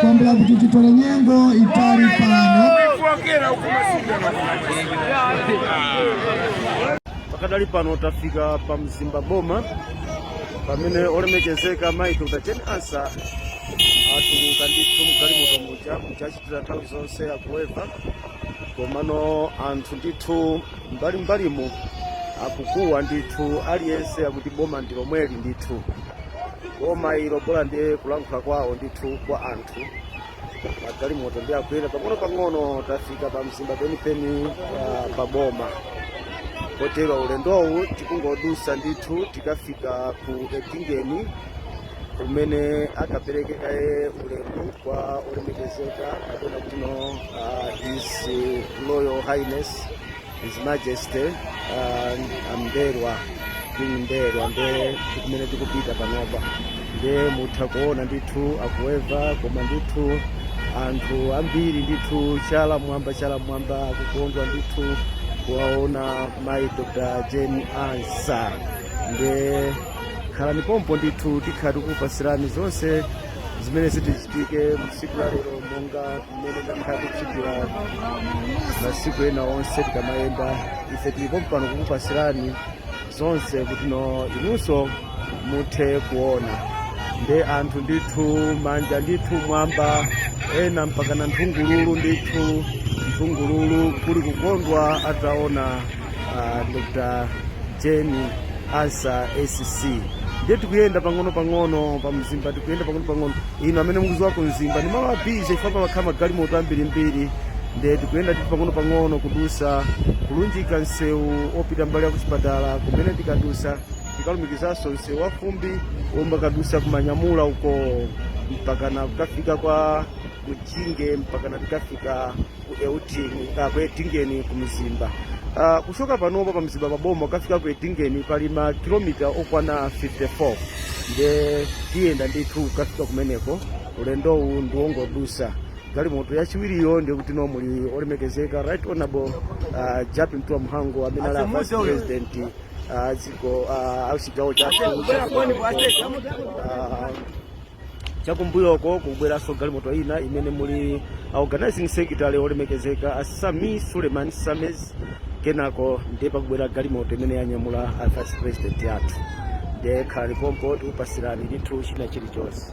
kwambula kuti titole nyengo yaitali pano pakadali pano tafika pa mzimba boma pamene olemekezeka mayi dr jane ansah atuluka ndithu mgalimoto muja amachitira nthawi zonse akuweva komano anthu ndithu mbali mbalimu akukuwa ndithu aliyense akuti boma ndi lomweli ndithu boma ilo bola ndi kulankhula kwawo ndithu kwa anthu magalimoto ndi akuyenda pang'ono pang'ono tafika pa mzimba penipeni uh, pa boma kotero ulendowu tikungodusa ndithu tikafika ku edingeni kumene akapereke kaye ulemu kwa olemekezeka kapena kutino uh, his royal highness his majesty uh, a m'mbelwa king m'mbelwa nde kumene tikupita panopa nde mutha kuona ndithu akuweva koma ndithu anthu ambiri ndithu chala mwamba chala mwamba akukondwa ndithu kuwaona mayi dr jane ansah nde khalani pompo ndithu tikhala tikukupasirani zonse zimene zidzichitike msiku la lero monga mmene takhala tikuchitira masiku ena onse tikamayenda ife tili pompano kukupasirani zonse kutino inunso muthe kuona nde anthu ndithu manja ndithu mwamba ena mpakana nthungululu ndithu nthungululu kuli kukondwa ataona uh, dr jane ansah sc ndiye tikuyenda pang'ono pang'ono pa mzimba tikuyenda pang'ono pang'ono inu amene mukuziwa ku mzimba ndi malo a busy chifukwa pamakhala magalimoto ambirimbiri ndiye tikuyenda ndithu pang'ono pang'ono kudusa kulunjika msewu opita mbali ya kuchipatala kumene tikadusa tikalumikizanso msewu wafumbi omwe ukadusa ku manyamula uko mpakana kukafika kwa mjinge mpakana tikafika ku Edi uh, ku Edingeni ku Mzimba uh, kuchoka panopa pa Mzimba pa boma kafika ku Edingeni pali ma kilomita okwana 54 nde tiyenda ndithu kafika kumeneko ulendowu ndiwongodusa galimoto yachiwiriyo ndiye kutino muli olemekezeka right honorable uh, Jappie Mtuwa Mhango amene ali vice president uh, dziko uh, auchigawo chathu uh, chakumbuyoko kubweranso galimoto ina imene muli a organizing secretary olemekezeka a sameer suleman sames kenako ndiye pakubwera galimoto imene yanyamula a vice president athu ndiye khalani pompo tikupasirani ndithu china chilichonse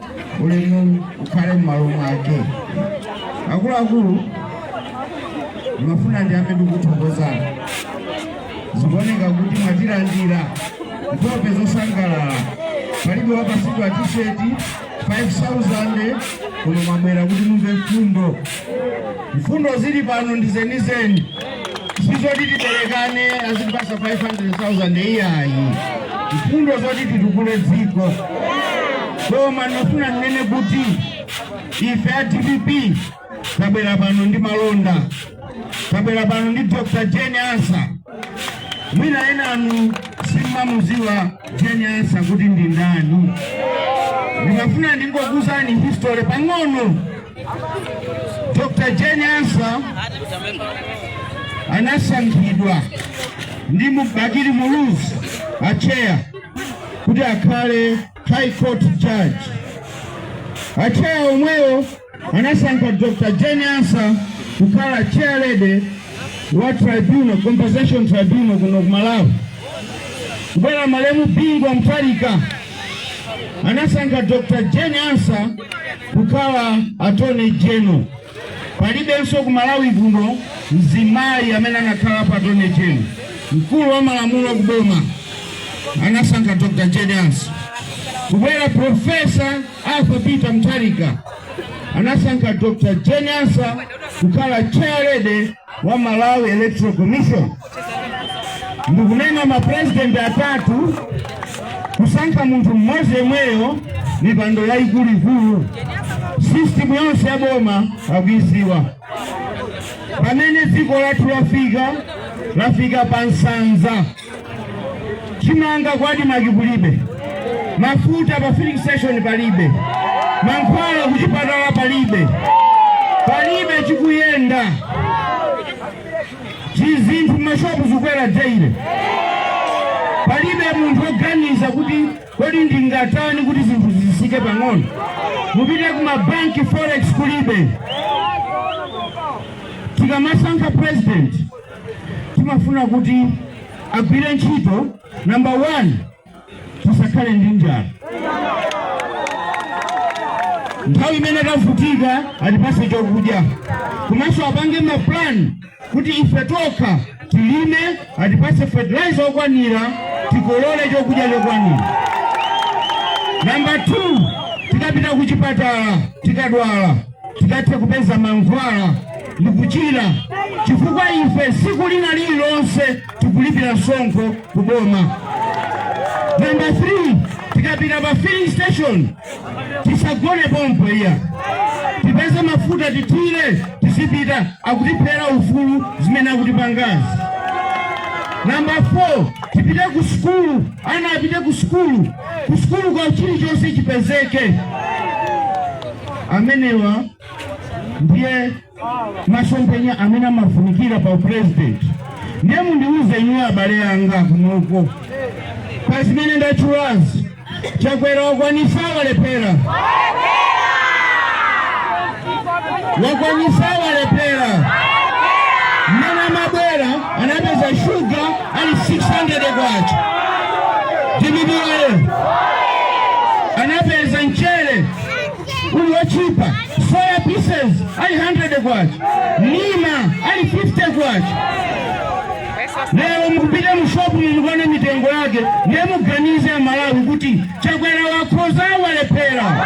ulemu ukhale m'malo mwake akuluakulu ndimafuna ndiyambe ndi kuthokoza zikuoneka kuti mwatilandira nkhope zosangalala palibe wapasidwa tisheti 5000 kuno mwabwera kuti mumve mfundo mfundo zili pano ndi zenizeni sizoti tiperekane azitipasa 500,000 iyayi mfundo zoti titukule dziko koma ndimafuna ndinene kuti ife a dpp tabwera pano ndi malonda tabwera pano ndi dr jane ansah mwina enanu simumamuziwa jane ansah kuti ndi ndani ndikufuna ndingokuuzani history pang'ono Dr. Jane Ansah anasankhidwa ndi Bakili Muluzi acheya kuti akhale High Court judge. Acheya omwewo anasankha Dr. Jane Ansah kukhala chair lady wa tribunal compensation tribunal kuno ku Malawi kubwera malemu Bingu wa Mutharika anasankha Dr. Jane Ansah kukhala attorney general. Palibenso ku Malawi kuno mzimayi amene anakhalapo attorney general. Mkulu wa malamulo ku boma anasankha Dr. Jane Ansah. Kubwera Profesa Arthur Peter Mutharika anasankha Dr. Jane Ansah kukhala chairlady wa Malawi Electoral Commission. ndikunena mapurezidenti atatu kusankha munthu mmodzi yemweyo mipando yayikuluikulu sisitimu yonse ya boma akuiziwa pamene dziko lathu lafika lafika pa nsanza chimanga kwa ADMARC kulibe mafuta pa filling station palibe mankhwala kuchipatala palibe palibe chikuyenda zinthu m'mashopu zikwera daily palibe munthu oganiza kuti kodi ndingatani kuti zinthu zisike pang'ono mupite kumabanki forex kulibe tikamasankha president timafuna kuti agwire ntchito number one tisakhale ndi njala nthawi imene tavutika atipase chokudya komanso apange mapulani kuti ife tokha tilime atipase fertilizer okwanira tikolole chokudya chokwanira namba 2 tikapita ku chipatala tikadwala tikathe kupeza mankhwala ndi kuchira, chifukwa ife tsiku lina lililonse tikulipira msonkho ku boma. Namba 3 tikapita pa filling station tisagone pompo iyayi tipeze mafuta tithire tizipita akutiphera ufulu zimene akutipangazi. Namba 4 tipite ku sukulu, ana apite ku sukulu, ku sukulu kwa chilichonse chipezeke. amenewa ndiye masomphenya amene amafunikira pa upresident ndiye mundiuze inuyo abale anga kunoko pa zimene ndatchulazi Chakwera wakwanitsa walephera wakwanitsa walephera mmene amabwera anapeza shuga ali 600 kwacha DPP anapeza mchere uli wotchipa soya pieces ali 100 kwacha nsima ili 50 kwacha lero mukapite mushopu mukaone mitengo yake ndiye muganize aMalawi kuti Chakwera wakhoza walephera